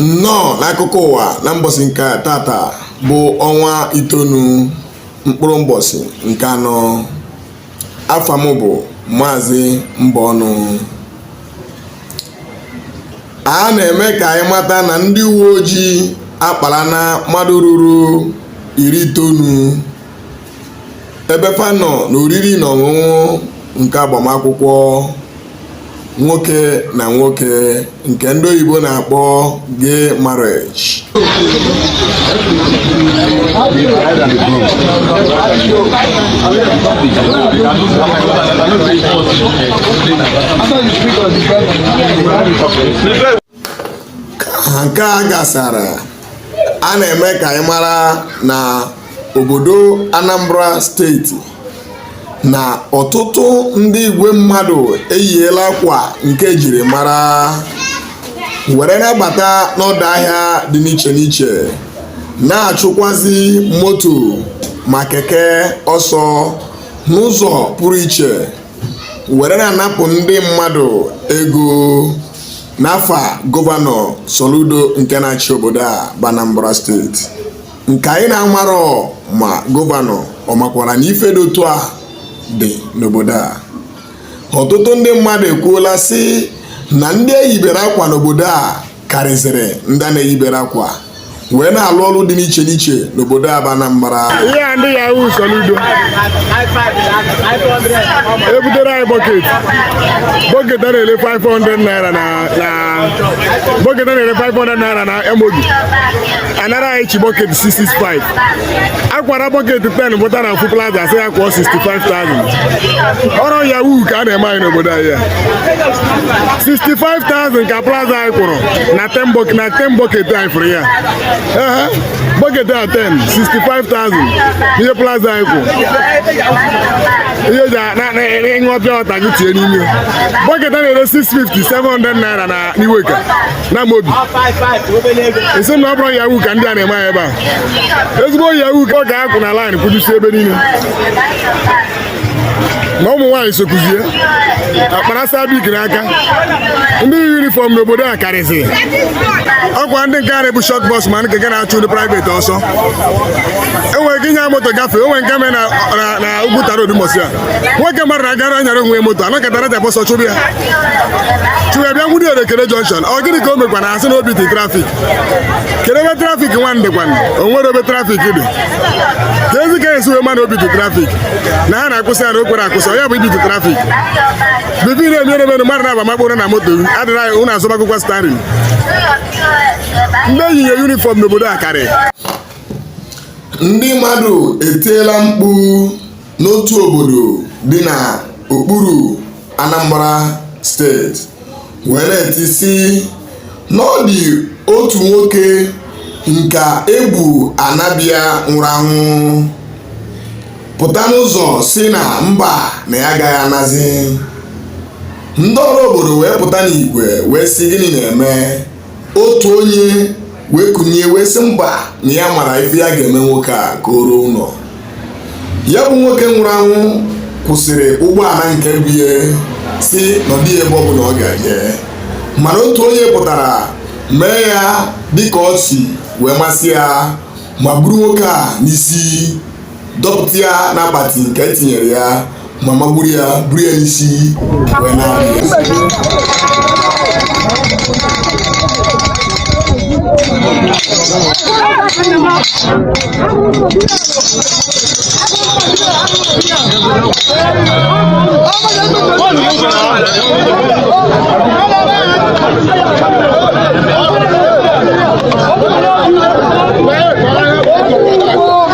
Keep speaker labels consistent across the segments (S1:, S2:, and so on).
S1: nnọọ n'akụkọ ụwa na mbọsị nke tata bụ ọnwa itoolu mkpụrụ mbọsị nke anọ afa m bụ maazị Mbọnụ. a na-eme ka anyị mata na ndị uwe ojii akparana mmadụ ruru iri itoolu ebe fa nọ na oriri na ọṅụṅụ nke agbamakwụkwọ nwoke na nwoke nke ndị oyibo na-akpọ gay marriage ka nke a gasara a na-eme ka anyị mara na obodo Anambra steeti na ọtụtụ ndị igwe mmadụ eyiela akwa nke e jiri mara were na-abata n'ọdụ ahịa dị n'iche n'iche na-achụkwazi moto ma keke ọsọ n'ụzọ pụrụ iche were na-anapụ ndị mmadụ ego n'afa gọvanọ Soludo nke na-achị obodo a bụ Anambra steeti nke anyị na-amarọ ma gọvanọ ọ makwara na ife dị otu a dị n'obodo a ọtụtụ ndị mmadụ ekwuola sị na ndị eyibere akwa n'obodo a karịzịrị ndị a na-eyibere akwa wee na-alụ ọrụ dị n'iche n'iche n'obodo a bụ Anambra ihe a ndị yahoo
S2: Soludo ebutere anyị bọket bọket a na-ele 500 naira na bọket a na-ele 500 naira na Emodi anara anyị each bọket 665 akwara bọket 10 bụta na ofu plaza asị ya kwụọ 65,000 ọrụ yahoo ka a na-eme anyị n'obodo anyị a. 65,000 ka plaza anyị kwụrụ na 10 bọket na 10 bọket anyị fụrụ ya Ehe, bọket a 10 65,000 ihe plaza anyị kwụ ihe ji a- na- na- na- ị ṅụọ pure water gị tinye n'ime bọket a na-ere 650 700 naira na n'Iweka n'Amobi asị m na ọ bụ ọrụ yahoo ka ndị a na-eme anyị ebe a ezigbo yahoo ka ọ ga-akwụ na laịn kwụjusi ebe niile na ụmụ nwaanyị sokuzie akpara sabik n'aka ndị yi yunifọm n'obodo a karịzi ọkwa ndị nke a na-ebu shọt bọs ma nke ga na-achụ ndị praịvet ọsọ enwere ike ịnya moto gafee onwe nke me na ugwu tara odumosi a nwoke mmadụ na-agara anyara onwe moto anakọtara ja bọsọ chụbụ ya chụwa bịa nwude erekere junction ọ gịnị ka o mekwa na a sị na o beat trafik kedu ebe trafik nwa dịkwanụ o nwere ebe trafik dị keezi ka e si wee ma na o beat trafik na ha na-akwụsị ya na o kwerọ akwụsị ya bụ ibeat trafik bụ ife na-emere emenụ mmadụ na agbamakpụrụ na moto adịra ụnụ azọbagokwa steering ndị e yinye yunifọm n'obodo a karị ndị
S1: mmadụ etiela mkpu n'otu obodo dị na okpuru Anambra steeti wee na-eti sị na ọ dị otu nwoke nke e bu ana be ya nwụrụ anwụ pụta n'ụzọ sị na mba na ya agaghị anazi ndị ọra obodo wee pụta n'igwe wee sị gịnị na-eme otu onye wee kunie wee sị mba na ya mara ife ya ga-eme nwoke a ka o ruo ụlọ ya bụ nwoke nwụrụ anwụ kwụsịrị ụgbọala nke bu ya sị na ọ dịghị ebe ọ bụla ọ ga-eje mana otu onye pụtara mee ya dịka ọ si wee masị ya ma buru nwoke a n'isi dọpụta ya n'akpati nke e tinyere ya ma ma buru ya buru ya n'isi wee na-abịa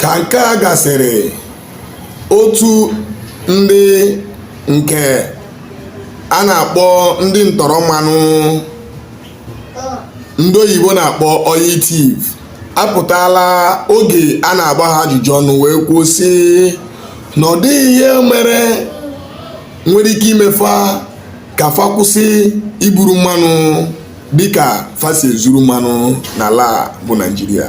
S1: ka nke a gasịrị otu ndị nke a na-akpọ ndị ntọrọ mmanụ ndị oyibo na-akpọ oil thief apụtala oge a na-agba ha ajụjụ ọnụ wee kwuo sị na ọ dịghị ihe mere nwere ike ime fa ka fa kwụsị iburu mmanụ dịka fa si ezuru mmanụ n'ala a bụ naijiria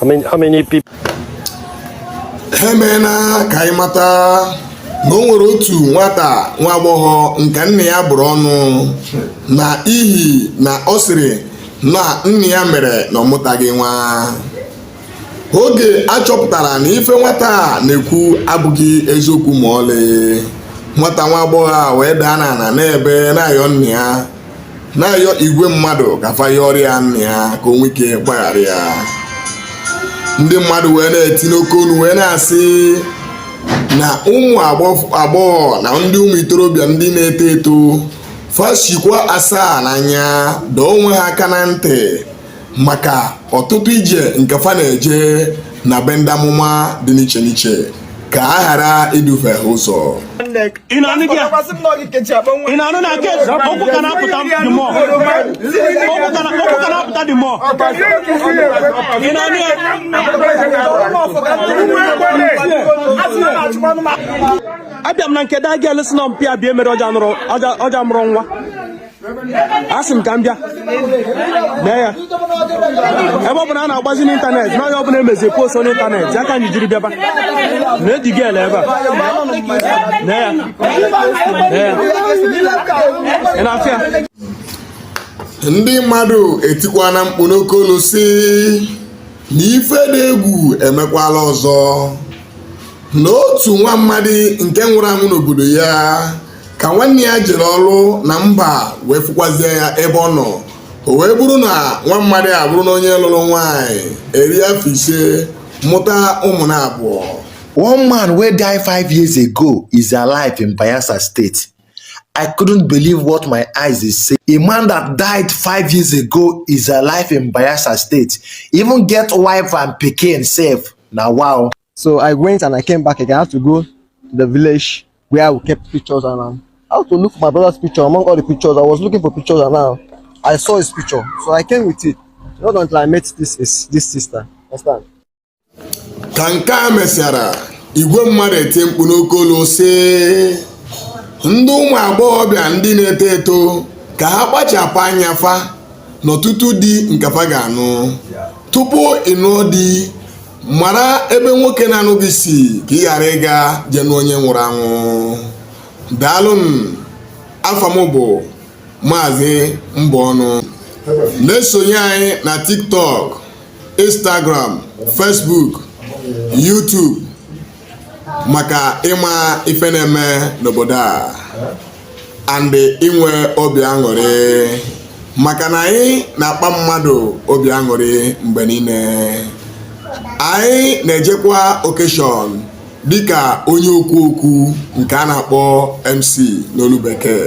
S3: How many, how
S4: many people?
S1: emeela ka anyị mata na o nwere otu nwata nwa agbọghọ nke nne ya bụrụ ọnụ na ihi na ọ sịrị na nne ya mere na ọ mụtaghị nwa oge a chọpụtara na ife nwata a na-ekwu abụghị eziokwu ma ọlị nwata nwa agbọghọ a wee daa n'ala na-ebe na-ayọ nne ya na-ayọ igwe mmadụ ka fa yọọrọ ya nne ya ka o nwee ike gbaghara ya ndị mmadụ wee na-eti n'oke olu wee na-asị na ụmụ agbọghọ na ndị ụmụ itorobịa ndị na-eto eto fa sikwa asaa n'anya dọọ onwe ha aka na ntị maka ọtụtụ ije nke fa na-eje na be ndị amụma dị n'iche n'iche ka a ghara idufe ha ụzọ ị na-anụ gị ya? ị na-anụ na nke okwu ka na-apụta dị mọ okwu ka na- okwu ka na-apụta dị mọ
S5: ị na-anụ ya abịa m na nke daa Gelesi na mpịa bịa emere ọja mụrụ nwa asị m ka m bịa mee ya ebe ọ bụ na a na-agbazi n'ịntanetị na onye ọbụla emezi post n'ịntanetị ya ka anyị jiri bịaba na-eji gị ele ebe a mee ya mee ya ị na-afụ
S1: ya ndị mmadụ etikwana mkpu n'oke olu sị na ife dị egwu emekwala ọzọ na otu nwa mmadụ nke nwụrụ anwụ n'obodo ya ka nwanne ya jere ọrụ na mba wee fụkwazie ya ebe ọ nọ o wee bụrụ na nwa mmadụ a bụrụ na onye lụrụ nwaanyị eri afọ ise mụta ụmụ na abụọ one man
S6: wey die five years ago is alive in bayelsa state i couldn't believe what my eyes dey say a man that died five years ago is alive in bayelsa state even get wife and pikin sef na wow So I went and
S7: I came back again. I had to go to the village where we kept pictures and um, I had to look for my brother's picture among all the pictures. I was looking for pictures and now I saw his picture. So I came with it. Not until I met this is this sister. Understand?
S1: Ka nke a mesịara igwe mmadụ eti mkpu n'oke olu sị ndị ụmụ agbọghọbịa ndị na-eto eto ka ha kpachapụ anya fa n'ọtụtụ di nke fa ga-anụ tupu ịnụ di mara ebe nwoke na-anụ gị si ka ị ghara ịga je nụ onye nwụrụ anwụ daalụ nụ afa m bụ maazị mbọnụ na-esonye anyị na tiktok instagram facebook youtube maka ịma ife na-eme n'obodo a and inwe obi aṅụrị maka na anyị na-akpa mmadụ obi aṅụrị mgbe niile anyị na-ejekwa occasion dịka onye okwu okwu nke a na-akpọ MC n'olu bekee